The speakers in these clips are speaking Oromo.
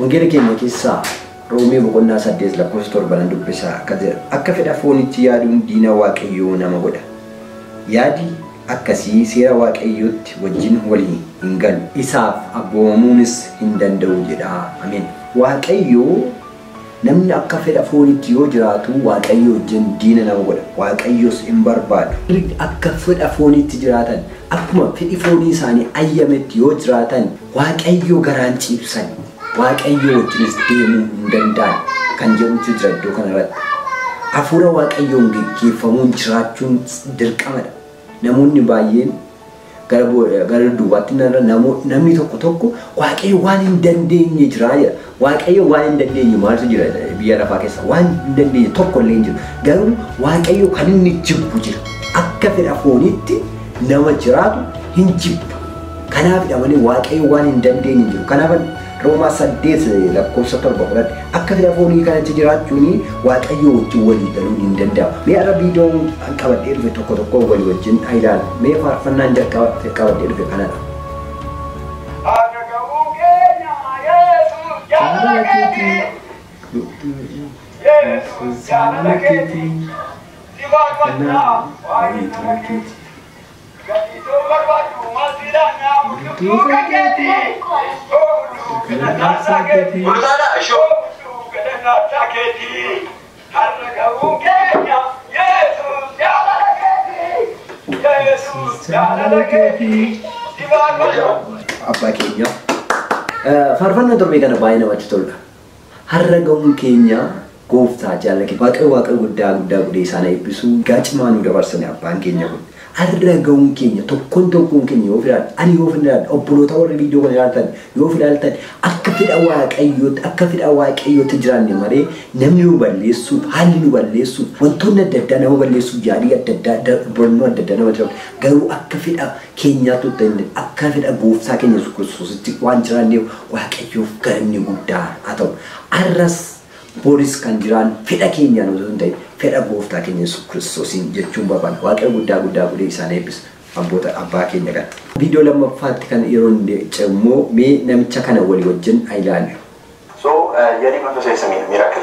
Wangeela keenya keessaa Roomee boqonnaa 8 lakkoofsa 7 nan dubbisa akka jedha. Akka fedha fooniitti yaaduun diina Waaqayyoo nama godha. Yaadi akkasii seera Waaqayyootti wajjin walii hin galu. Isaaf abboomamuunis hin danda'u jedha. Ameen. Waaqayyo Namni akka fedha fooniitti yoo jiraatu Waaqayyoo wajjin diina nama godha, Waaqayyos in barbaadu. Warri akka fedha fooniitti jiraatan, akkuma fedhi foonii isaanii ayyametti yoo jiraatan, Waaqayyoo garaa in ciibsan, Waaqayyoo wajjinis deemuu hin danda'an kan jedhutu jira iddoo kana irratti. Hafuura Waaqayyoon geggeeffamuun jiraachuun dirqama dha. Namoonni baay'een gara gara dudduubaatti hin ilaalan, namoonni namni tokko tokko waaqayyo waan hin dandeenye jiraa jedha. Waaqayyo waan hin dandeenye maaltu jira biyya lafaa keessa waan hin dandeenye tokko illee hin jiru. Garuu waaqayyo kan inni jibbu jira. Akka fedha fooniitti nama jiraatu hin jibba. Kanaafidha malee waaqayyo waan hin dandeenye hin jiru. Kanaafan Roomaa 8 lakkoofsa 7 fudhadhe. Akka fedha foonii kanatti jiraachuun Waaqayyoo wajjin walii galuun hin danda'amu. Mee har'a viidiyoon an qabadhee dhufe tokko tokko walii wajjin haa ilaallu. Mee faarfannaan jalqaba qabadhee dhufe kanadha. Akka ga'uu keenya Yesuus jaalala keeti. Yesuus jaalala keeti. Si faarfannaa waa'ee tola keeti. Abbaa keenya. Faarfannaa torbee kana baay'ee namatti tola. Harra gahun keenyaa gooftaa jaalla kee waaqayyo waaqayyo guddaa guddaa gudee isaan haa eebbisu egaa cimaa nuu dabarsani abbaan keenya kun harra gahun keenya tokkon tokkon keenya yoo of ilaalle ani yoo of ilaalle obbolootaa warri viidiyoo kana ilaaltan yoo of ilaaltan akka fedha waaqayyootti akka fedha waaqayyootti jiraanne malee namni nu balleessuuf haalli nu balleessuuf wantoonni adda addaa nama balleessuuf yaalii adda addaa da- bornoo adda addaa nama jiraatu garuu akka fedha keenyaattu itti himne, akka fedha Gooftaa keenya Yesus Kiristoositti waan jiraanneef Waaqayyoof galanni guddaa haa ta'u. Har'as boris kan jiraannu fedha keenyaan osoo hin ta'in fedha Gooftaa keenya Yesus Kiristoosiin jechuun barbaanna. Waaqayyo guddaa guddaa godhee isaan eebbisu abboota abbaa keenya kana. Viidiyoo lammaffaatti kan yeroon ce'u immoo mee namicha kana walii wajjin haa ilaallu. So, yet he could not say it's a miracle.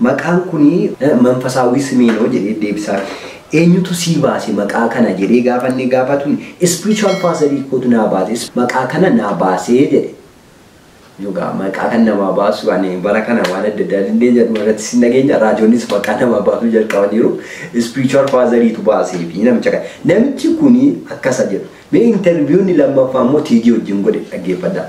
Maqaan kuni manfasaawwii simee no jedhee deebisaaf. Eenyutu sii baase maqaa kana jedhee gaafa inni gaafatu spiritual father kootu naa baase maqaa kana naa baasee jedhe. Dhugaa maqaa kan namaa baasu ani bara kana waan adda addaa dandeenya dhumarratti sin dhageenya raajoonnis maqaa namaa baasuu jalqabaniiru spiritual father tu baasee fi namicha kana. Namichi kuni akkasa jedhu. Mee interview inni lammaffaa immoo tiigii wajjin godhe dhaggeeffadhaa.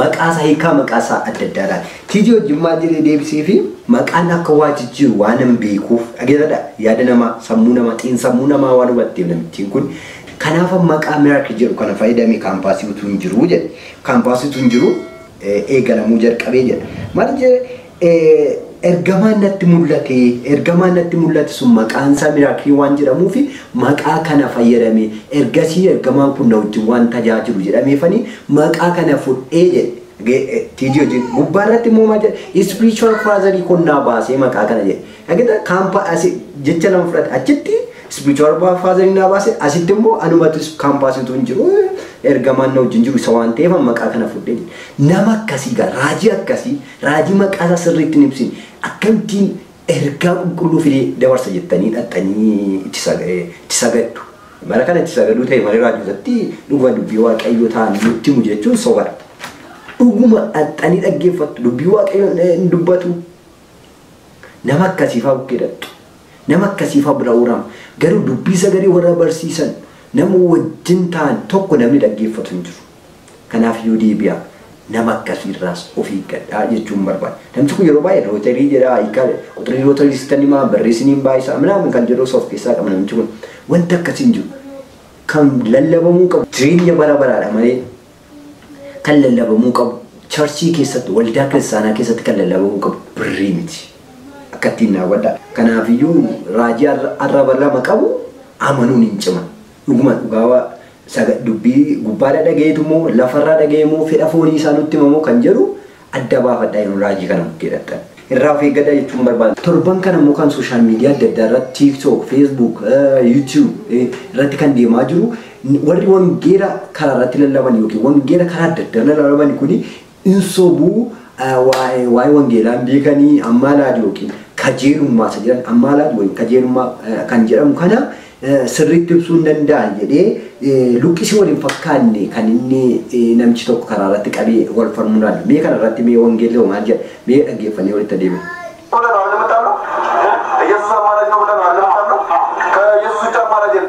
Maqaa isaa hiikaa maqaa isaa adda addaa laata. Tiijii wajjin maal jedhee deebiseefi? Maqaan akka waa jijjiiru waanan beekuuf dhageeffadha yaada namaa sammuu namaa xiinsammuu namaa waan hubatteef namittiin kun kanaafan maqaa miracle jedhu kana fayyadame kaampaasii utuu hin jiru jedhe kaampaasii utuu hin jiru eegalamuu jalqabee jedha maal jedhe Ergamaan natti mul'ate, ergamaan natti mul'ate sun maqaan isaa Miraakilii waan jedhamuuf maqaa kana fayyadame. Ergasii ergamaan kun na wajjin waan tajaajilu jedhameefani maqaa kana fudhee jedhe. TG hojii gubbaa irratti immoo maal jedhe? Ispiriichuwal faazarii kun naa baasee maqaa kana jedhe. Dhageeta kaampa asi jecha lama fudhate achitti ispiriichuwal faazarii naa baase asitti immoo anumatu kaampaasii utuu hin jiru ergamaan na wajjin jiru isa waan ta'eef maqaa kana fudhee jedhe. Nama akkasii gaa raajii akkasii Raajii maqaa isaa sirriitti hin ibsin akkamittiin ergaa qulqulluu fidee dabarsa jettanii dhaqxanii itti sag- eh, itti sagaddu. Bara kana itti sagaduu ta'e malee raajootatti dhuguma dubbii waaqayyoo ta'an nutti himu jechuun sobadha. Dhuguma dhaqxanii dhaggeeffattu dubbii waaqayyoon eh, hin dubbatu. Nama akkasiifaa bukkee dhaqxu. Nama akkasiifaa bira uurama. Garuu dubbii sagalee warra barsiisan nama wajjin ta'an tokko namni dhaggeeffatu hin jiru. Kanaaf Yudiibiyaa nama akkasii irraas of eeggadhaa jechuun barbaada. Namichi kun yeroo baay'ee rooterii jedha, hiikaa quxurii rooterii sittan himaa, birrii siniin baay'isaa minaamin kan jedhus of keessaa qaba namichi kun. Wanti akkasii hin jiru. Kan lallabamuu qabu jireenya bara baraadha malee kan lallabamuu qabu charchii keessatti waldaa kiristaanaa keessatti kan lallabamuu qabu birrii miti. Akka ittiin daawwadha. Kanaafiyyuu raajii arraba lama qabu amanuun hin ciman. Dhuguma dhugaa Saga, dubbii gubbaadhaa dhagayeetu moo, lafarraa dhagayee moo, fedha foonii isaa nutti hima moo kan jedhu adda baafadhaa yeroo raajii kana bukkee dhaqxan. Irraa of eeggadhaa jechuun barbaada. Torban kana immoo kan social media adda addaa irratti tiktok, facebook, youtube irratti kan deemaa jiru warri wangeela karaa irratti lallaban yookiin wangeela karaa adda addaa lallaban kuni Hin sobuu waa'ee wangeelaa hin beekanii ammaalaad yookiin kajeelummaa isa jedhan ammaalaad wayim kajeelummaa kan jedhamu kana sirriitti ibsuu hin danda'an jedhee luqqisii wal hin fakkaanne kan inni namichi tokko karaa irratti qabee wal falmuu ilaalla. Mee kana irratti mee wangeelli hoo maal jedha? Mee dhaggeeffannee walitti deebina. Kutaa Yohaannis Mattaalloo Yesuus ammaalaad yoo kutaa Yohaannis Mattaalloo ka Yesuus bicha ammaalaad jedhu.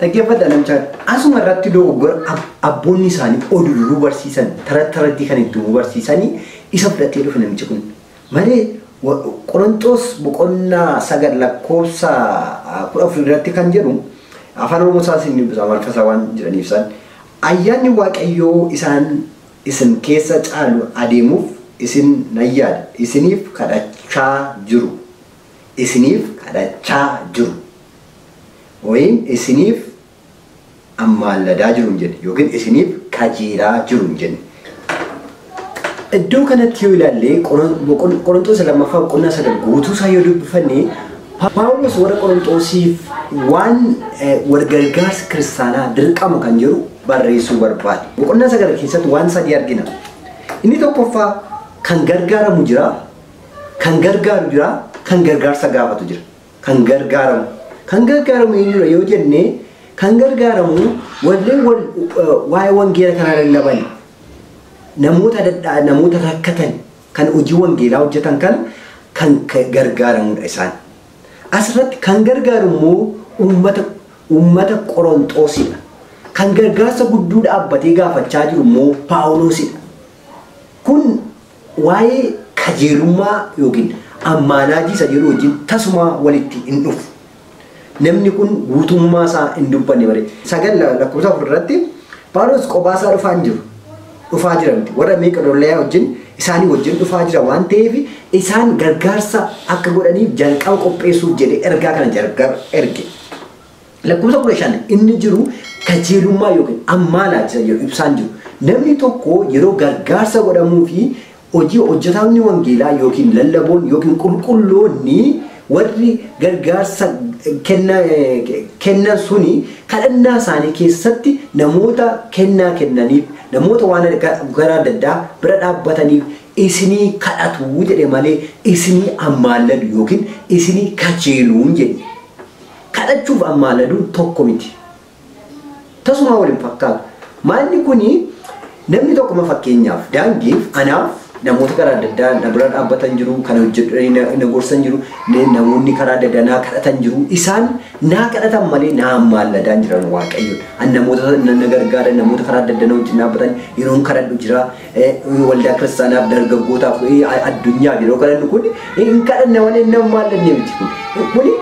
Dhaggeeffadha namichaan asuma irratti dogoggora ab- abboonni isaanii oduu duruu barsiisan taratti tarattii kan itti uumuu barsiisanii isa fudhatee dhufe namichi kun. Malee wa- Qoronxoos boqonnaa sagal lakkoofsa ah, kudha afur irratti kan jedhu afaan oromoo isaan isin dubbisa amaariffa isaa waan jedhaniif isaan ayyaanni waaqayyoo isaan isin keessa caalu adeemuuf isin nan yaada isiniif kadhachaa jiru isiniif kadhachaa jiru. Wayin isiniif ammaalladaa jiru hin jenne yookiin isiniif kajeelaa jiru hin jenne. Iddoo kanatti yoo ilaalle Qorontoos lammaffaa boqonnaa sagal guutuu isaa yoo dubbifanne Paawulos warra Qorontoosiif waan walgargaarsa kiristaanaa dirqama kan jedhu barreessuu barbaade. Boqonnaa sagal keessatti waan sadii argina. Inni tokkoffaa kan gargaaramu jira, kan gargaaru jira, kan gargaarsa gaafatu jira. kan gargaaramu. Kan gargaaramu eenyudha yoo jenne kan gargaaramu walleen wal waa'ee wangeela kanaa lallaban namoota dadhaa namoota rakkatan kan hojii wangeelaa hojjetan kana kan ka- gargaaramudha isaan. Asirratti kan gargaaru immoo uummata uummata Qoronxoosidha. Kan gargaarsa gudduu dhaabbatee gaafachaa jiru immoo Paawuloosidha. Kun Waa'ee kajeelummaa ykn ammaanaajii isa jedhuu wajjin tasumaa walitti hin dhufu. Namni kun guutummaa isaa hin dubbanne malee. 9 lakkoofsa 4 irratti Phaawulos qophaa isaa dhufaa hin jiru. Dhufaa jira miti. Warra Meeqedooniyaa wajjin isaanii wajjin dhufaa jira waan ta'eef isaan gargaarsa akka godhaniif jalqaba qopheessuuf jedhee ergaa kana erge. Lakkoofsa kudha shan inni jiru kajeelummaa yookiin ammaanaa isa jedhu ibsaan jiru. Namni tokko yeroo gargaarsa godhamuu fi hojii hojjetaamni wangeelaa yookiin lallaboon yookiin qulqulloonni warri gargaarsa kenna, kennan suni kadhannaa isaanii keessatti namoota kennaa kennaniif, namoota waan gara adda addaa bira dhaabbataniif isinii kadhatu jedhe malee isinii ammaalladu yookiin isinii kajeeluun jedhe. kadhachuuf ammaaladu tokko miti. Tasumaa wal hin fakkaatu. Maalli kuni namni tokko ma fakkeenyaaf daangeef anaaf namoota karaa adda addaa na bira dhaabbatan jiru, kana hojjedhanii na, na gorsan jiru, na- namoonni karaa adda addaa naa kadhatan jiru. Isaan naa kadhatan malee naa ammaalladaan jiran waaqayyoon. An namoota na, na gargaaran, namoota karaa adda addaa na wajjin dhaabbatan yeroon kadhadhu jira. Inni waldaa kiristaanaaf dargaggootaaf addunyaaf yeroo kadhannu kun hin kadhanne malee inni ammaa illee miti kun. Kuni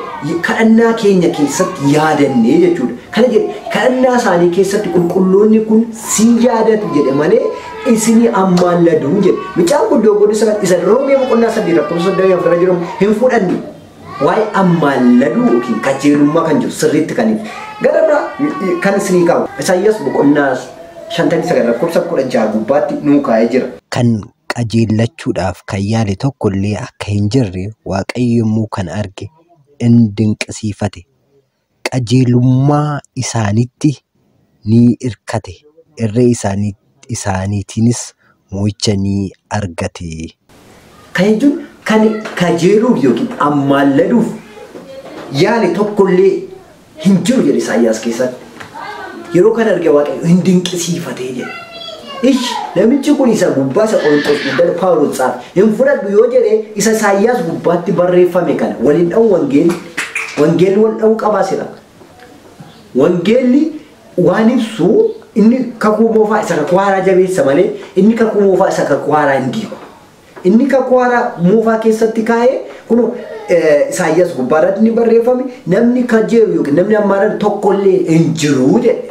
kadhannaa keenya keessatti yaadannee jechuudha. Kana jedhe kadhannaa isaanii keessatti qulqulloonni kun si yaadatu jedhe malee isinii ammaan laduu jedhe. Mucaan kun dogoggora isa isa roomee boqonnaa sadii lakkoofsa soddomii afur irra jiru hin fudhanne. Waa'ee ammaalladuu yookiin qajeelummaa kan jiru sirriitti kan ibsu. Gara biraa kan isinii kaahu Isaayyaas boqonnaa 59 lakkoofsa 16 gubbaatti nuu kaa'ee jira. Kan qajeellachuudhaaf kan yaale tokko illee akka hin jirre Waaqayyo yommuu kana arge in dinqisiifate. qajeelummaa isaaniitti ni irkate, irree isaaniitiinis mo'icha ni argate. Kana jechuun kan kajeeluuf yookiin ammaalladuuf yaale tokko illee hin jiru jedhe Isaayyaas keessatti. Yeroo kana arge Waaqayyo hin dinqisiifatee jedhe. Ish namichi kun isa gubbaa isa Qorontos guddana Phaawulos caafe hin fudhadhu yoo jedhe isa Isaayyaas gubbaatti barreeffame kana wal hin dha'u wangeelli wangeelli wal dha'uu qabaa sila wangeelli waan ibsu inni kakuu moofaa isa kakuu haaraa jabeessa malee inni kakuu moofaa isa kakuu haaraa hin diigu inni kakuu haaraa moofaa keessatti kaa'ee kun Isaayyaas gubbaa irratti ni barreeffame namni kajeelu yookiin namni ammaa tokkollee hin jiru jedhe.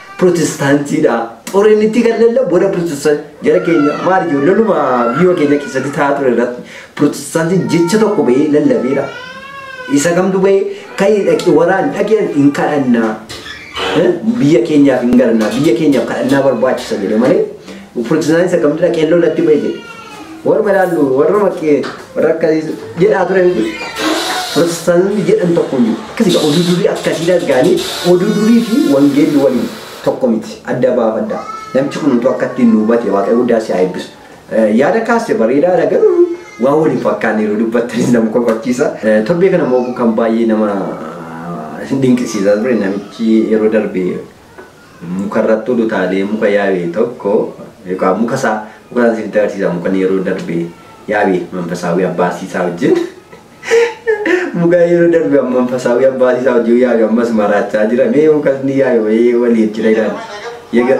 Pirotestaantiidha. Xoriin itti kan lallaa booda pirotestaan jara keenya maal jiru lalluma biyya keenya keessatti taa'aa ture irratti pirotestaantiin jecha tokko bahee lallabeera. Isa kamtu bahee ka'ee dhaqi waraan dhaqeen hin kadhannaa. Biyya keenyaaf hin galannaa biyya keenyaaf kadhannaa barbaachisa jedhe malee pirotestaantiin isa kamtu dhaqee lolatti bahee jedhe. Warruma ilaallu warruma kee warra akka jedhaa ture miti. Pirotestaanonni jedhan tokko hin jiru. Akkasii gaa oduu durii akkasii dhaggaanii oduu durii fi wangeelli waliin tokko miti adda baafadha. Namchi kun utuu akka ittiin nu hubate waaqayyo guddaa si haa eebbisu. Eh, Yaada kaaste bareedaa dha garuu waan waliin fakkaanne yeroo dubbattanis nama kofachiisa. Eh, Torbee kana immoo kan baay'ee nama dinqisiisaa ture namichi yeroo darbe Mukarratti ol utaalee muka yaabe tokko yookaan muka isaa muka isaa siif dabarsiisa mukan yeroo darbe yaabe manfasaawii abbaasii isaa wajjin muka yeroo darbe manfasaawii abbaasii isaa wajjin yaabe ammas maraachaa jira mee mukas ni yaabe wayii waliin jira ilaali. Yaga-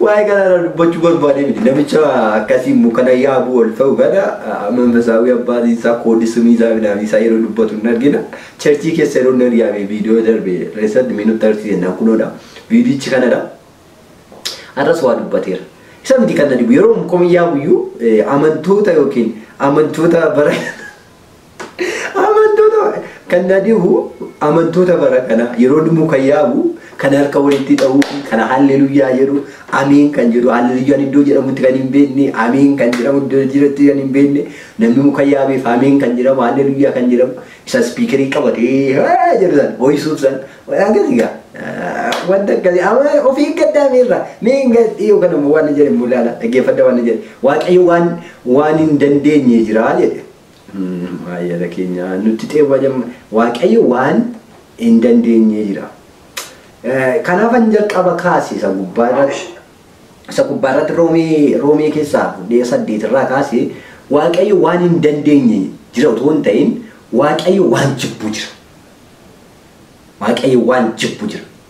Waa'ee kanaa irraa dubbachuu barbaadee miti. Namicha akkasii mukana yaabuu ol ta'u kana manfasaawii abbaan isaa koodii sumii isaa midhaanii isaa yeroo dubbatu hin argina. Cherchii keessa yeroo inni argaame viidiyoo darbe keessatti mee nutti argisiise naan kunoodha. Viidiyichi kanadha. Har'as waa dubbateera. Isa miti kan na dhibu yeroo mukuma yaabuyyuu amantoota yookiin amantoota bara Amantoota kan na dhibu amantoota bara kana yeroo dhimmu kan yaabu kan harka walitti dha'u kan halleluyyaa jedhu ameen kan jedhu halleluyyaan iddoo jedhamutti kan hin beekne ameen kan jedhamu iddoo jiratti kan hin beekne namni muka yaabeef ameen kan jedhamu halleluyyaa kan jedhamu isa spiikerii qabatee "Haa!" jedhu san ho'isuuf san akkasii gaa wanta akkasii amma of eeggadhaa miirraa mee hin gas dhiyoo kana immoo waan jedhe immoo ilaala dhaggeeffadha waan jedhe waaqayyo waan waan hin dandeenye jira jedhe Maayela keenya nutti xeewwa jamma waaqayyo waan hin dandeenye jira. Kanaafan jalqaba kaase isa gubbaa irratti isa gubbaa irratti roomee roomee keessaa fudhee saddeet irraa kaase waaqayyo waan hin dandeenye jira otoo hin ta'in waaqayyo waan jibbu jira. Waaqayyo waan jibbu jira.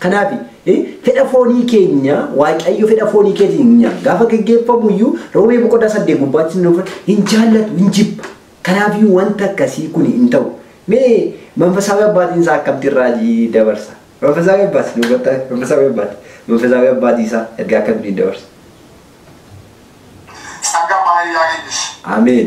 Kanaaf, fedha foonii keenya Waaqayyo fedha foonii keetiin hin nyaatu. Gaafa geggeeffamu iyyuu Roomee boqonnaa saddeet gubbaatti nuuf hin jaallatu, hin jibba. Kanaaf iyyuu wanta akkasii kun hin ta'u. Mee manfasaawi abbaatiin isaa akkamtiin raajii dabarsa? Manfasaawi abbaati nu hubattaa? Manfasaawi abbaati. Manfasaawi abbaatii isaa ergaa akkamtiin dabarsa? ጸጋ ባህሪ ያገኝሽ። Ameen.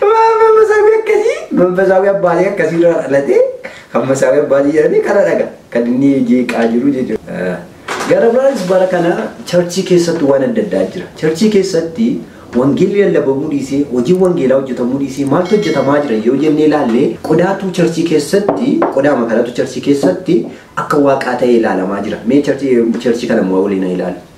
Maafan masaawii akkasii manfasaawii abbaalee akkasii irraa dhalatee kan masaawii abbaatii jedhanii kana dhaga kan inni jeeqaa jiru jechuudha. Gara biraanis bara kana charchii keessatti waan adda addaa jira. Charchii keessatti wangeelli lallabamuu dhiisee hojii wangeelaa hojjetamuu dhiisee maaltu hojjetamaa jira yoo jennee ilaalle qodaatu charchii keessatti qodaama kanatu charchii keessatti akka waaqaa ta'ee ilaalamaa jira. Mee charchii charchii kana immoo waliin haa ilaalu.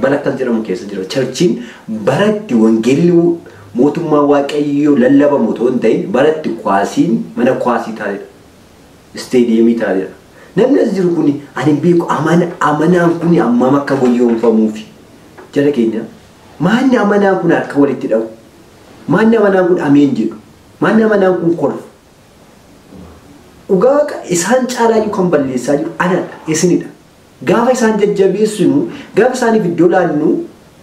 Bara akkas jedhamu keessa jira. Charchiin bara itti wangeelli mootummaa waaqayyoo lallabamu otoo hin ta'in bara itti kwaasiin mana kwaasii taa'edha. Isteediyeemii taa'edha. Namni as jiru kuni ani hin beeku amana amanaan kuni hammam akka goyoomfamuufi jara keenya maanni amanaan kun harka walitti dhahu maanni amanaan kun ameen jedhu maanni amanaan kun kolfu dhugaa waaqa isaan caalaayyuu kan balleessaa jiru anadha isinidha. Gaafa isaan jajjabeessinu, gaafa isaaniif iddoo laannu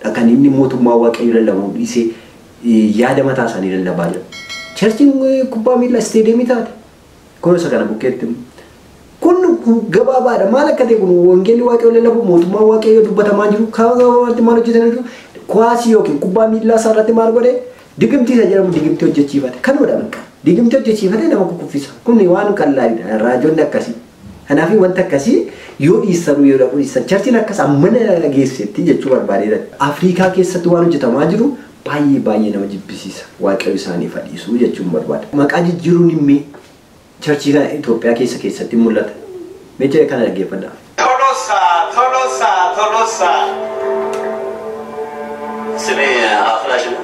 dha kan inni mootummaa Waaqayyoo lallabuu dhiisee yaada mataa isaanii lallabaa jiran. Charchiin kubbaa miillaa isteediyeemii taate kunoo isa kana bukkeetti immoo. Kun gabaabaadha. Maal akka ta'e kun wangeelli Waaqayyoo lallabu mootummaa Waaqayyoo dubbatamaa jiru karaa gabaabaatti maal hojjetanii jiru? Kuwaasii yookiin kubbaa miillaa isaa irratti maal godhe? Digimtii isa jedhamu digimtii hojjechiifate. Kanumadha bakka. Digimtii hojjechiifate nama kukkuffisa. Kun waan qallaadha. Raajonni akkasii. Kanaafii wanta akkasii yoo dhiissanuu yoo dhaquu dhiissan charchiin akkas ammana geessetti jechuu barbaadee Afriikaa keessatti waan hojjetamaa jiru baay'ee baay'ee nama jibbisiisa waaqayyo isaaniif haa dhiisuu jechuun barbaada. Maqaa jijjiiruun immee charchii kana Itoophiyaa keessa keessatti mul'ata. Mee jara kana dhaggeeffadhaa. Tolosa, Tolosa, Tolosa. ስሜ አፍላሽ ነው።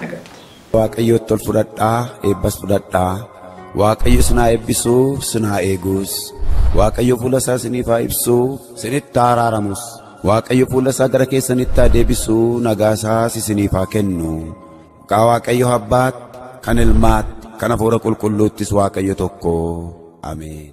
argatte. Waaqayyootti ol fudhadhaa eebbas fudhadhaa. Waaqayyo isin haa eebbisu isin haa eegus. Waaqayyo fuula isaa isiniif haa ibsu isinitti haa araaramus. Waaqayyo fuula isaa gara keessanitti haa deebisu nagaa isaas isiniif haa kennu. Maqaa Waaqayyo abbaatti kan ilmaatti kan hafuura qulqulluuttis Waaqayyo tokko. Ameen.